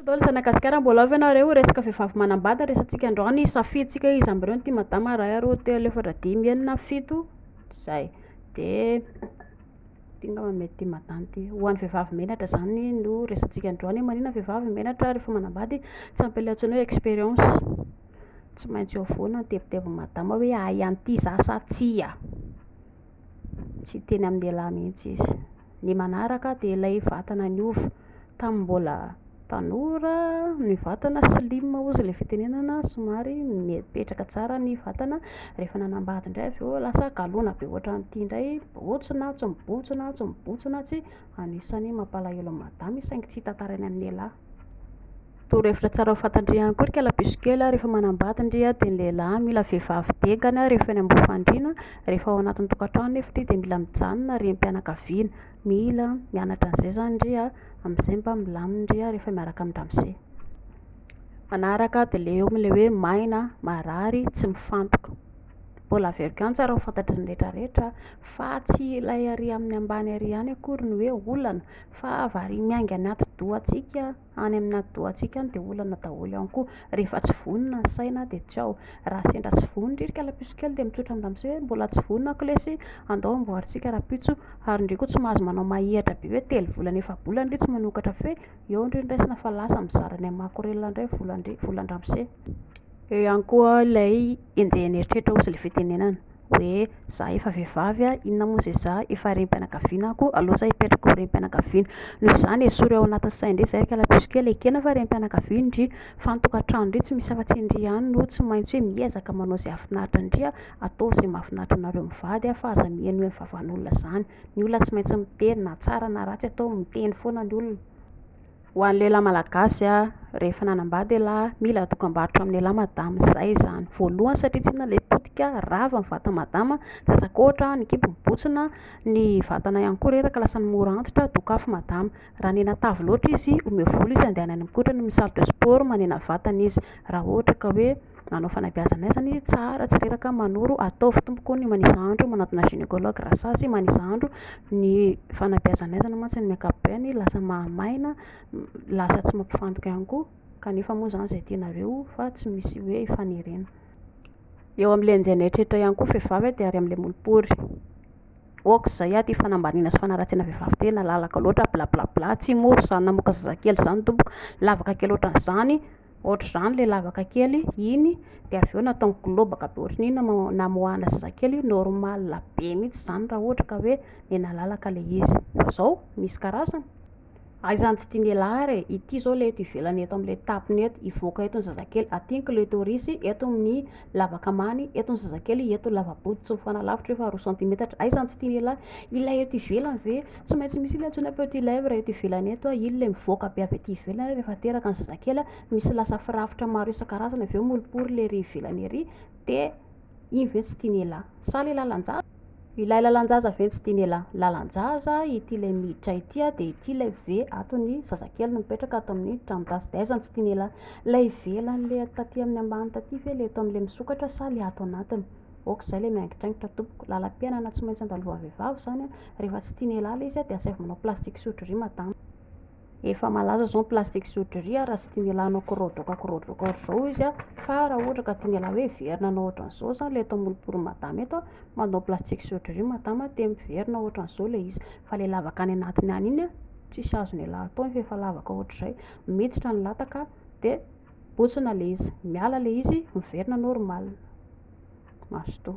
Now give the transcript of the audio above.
Dol zana gasikara mbola ao ve nareo resaka vehivavy manambady no resatsika androany ny safidy tsika iza amby ireo no tia madama iray aroa telo efatra dimy enina fito zay de ty ngamba mety tia madama ty ho an'ny vehivavy menatra zany no resatsika androany hoe manina vehivavy menatra rehefa manambady tsy ampy ilay antsoina hoe experience tsy maintsy eo foana ny tebitebin'ny madama hoe ahy an'ity za sa tsia Tsy hiteny amin'ny lehilahy mihitsy izy. Ny manaraka dia ilay vatana niova. Tamin'ny mbola tanora ny vatana slim hozy ilay fitenenana, somary mipetraka tsara ny vatana, rehefa nanambady indray avy eo lasa galona be ohatran'ity indray, mibontsina, tsy mibontsina, tsy mibontsina, tsy, anisan'ny mampalahelo an'i madama izy saingy tsy hitantaraina amin'ny lehilahy. Torohevitra tsara ho fantan-dry ihany koa ry kalabesokely a, rehefa manambady-ndry a dia ny lehilahy mila vehivavy dingana rehefa eny am-bofan-driana, rehefa ao anatin'ny tokantrano nefa-ndry dia mila mijanona rehim-pianakaviana, mila mianatra an'izay izany-ndry a, amin'izay mba milamina-ndry a rehefa miaraka amin-dramose. Manaraka dia le eo le hoe maina, marary, tsy mifantoka. Mbola averiko ihany tsara ho fantatry ny rehetra rehetra fa tsy ilay ary amin'ny ambany ary ihany akory no hoe olana, Fa vary miainga anaty dohantsika, any anaty dohantsika any dia olana daholo ihany koa. Rehefa tsy vonona ny saina dia tsy ao. Raha sendra tsy vonona indray ry kalapisy kely dia mitsotra amn-dramose hoe mbola tsy vonona aho kolesy, andao amboarintsika rahampitso. Ary indray koa tsy mahazo manao mahihatra be hoe telo volana efa-bolana indray tsy manokatra feo, eo indray no raisina fa lasa mizara any amin'ny makorelina indray ny volan-dramose. Eo ihany koa ilay enjehin'ny eritreritra ozy ilay fitenenana hoe za efa vehivavy a, inona moa izay za efa renim-pianakaviana ako, aleo za hipetraka ho renim-pianakaviana, noho izany esory ao anatin'ny sainy indray izay kala plus kely, ekena fa renim-pianakaviana ndry, fa ny tokantrano ndry tsy misy afa-tsy ndry ihany no tsy maintsy hoe miezaka manao izay hahafinaritra ndry a, ataovy izay mahafinaritra anareo mivady a, fa aza mihenoheno vavan'olona izany, ny olona tsy maintsy miteny na tsara na ratsy ataovy miteny foana ny olona. Ho an'ny lehilahy malagasy a, rehefa nanambady ialahy, mila dokam-barotra amin'ny lehilahy madama, izay izany, voalohany satria tsy inona ilay potika, rava ny vata madama, tsy atsako ohatra a, ny kibo mibontsina, ny vatana ihany koa reraka lasany mora antitra, dokafo madama, raha nena tavy loatra izy, omeo vola izy handehanany mikotrana, amin'ny salle de sport manena vatana izy, raha ohatra ka hoe. nanao fanabeazana ahy zany hoe tsara tsy reraka manoro ataovy tompoko ny manisa andro manatona gynécologue raha sazy manisa andro ny fanabeazana ahy zany mantsy ny ankapobeny lasa mahamaina lasa tsy mampifantoka ihany koa kanefa moa zany izay tianareo fa tsy misy hoe hifanerena eo amin'ilay enjehin'ny eritreritra ihany koa ny vehivavy dia ary amin'ilay molopory ok zay aty fanambaniana sy fanaratsiana vehivavy ty nalalaka loatra blablabla tsy mora zany namoaka zazakely zany tompoko lavaka kely ohatran'izany Ohatr'izany ilay lavaka kely iny dia avy eo nataony globaka be ohatran'iny nama- namoahana zazakely iny, normal be mihintsy izany raha ohatra ka hoe nenalalaka ilay izy, fa izao misy karazany, hay izany tsy tian'ialahy ary e, ity izao ilay eto ivelany eto amin'ilay tapony eto, hivoaka eto ny zazakely, aty ny clitoris, eto ny lavaka ambany, eto ny zazakely, eto ny lava-bohoka tsy mifanalavitra io fa roa centimetatra, hay izany tsy tian'ialahy, ilay eto ivelany ve. Tsy maintsy misy ilay antsoina petit lait raha eto ivelany eto, iny ilay mivoaka be avy aty ivelany rehefa teraka ny zazakely, misy lasa firafitra maro isan-karazany avy eo moripory ilay ery ivelany ery, dia iny ve tsy tian'ialahy? Sa ilay lalan-jaza? Ilay lalan-jaza ve no tsy tian'ialahy? Lalan-jaza ity ilay miditra ity dia ity ilay ve ato ny zazakely no mipetraka ato amin'ny tranon-jaza dia aiza no tsy tian'ialahy? Ilay ivelany ilay taty amin'ny ambany taty ve ilay eto amin'ilay misokatra sa ilay ato anatiny? ok zay le miangitraingitra tompoko lalam-piainana tsy maintsy andalovaha vehivavy zany a rehefa tsy tiany hiala izy a de asaivo manao plastic surgery madama efa malaza zao ny plastic surgery a raha tsy tiany hiala hanao korodraoka korodraoka ohatr'izao izy a fa raha ohatra ka tiany hiala hoe hiverina hanao ohatran'izao zany le eto amolopolony madama eto a manao plastic surgery madama te miverina ohatran'izao le izy fa le lavaka any anatiny any iny a tsisy azony hiala atao iny fa efa lavaka ohatr'izay miditra ny lataka de Botsina le izy, miala le izy, miverina normal. Mazotoa.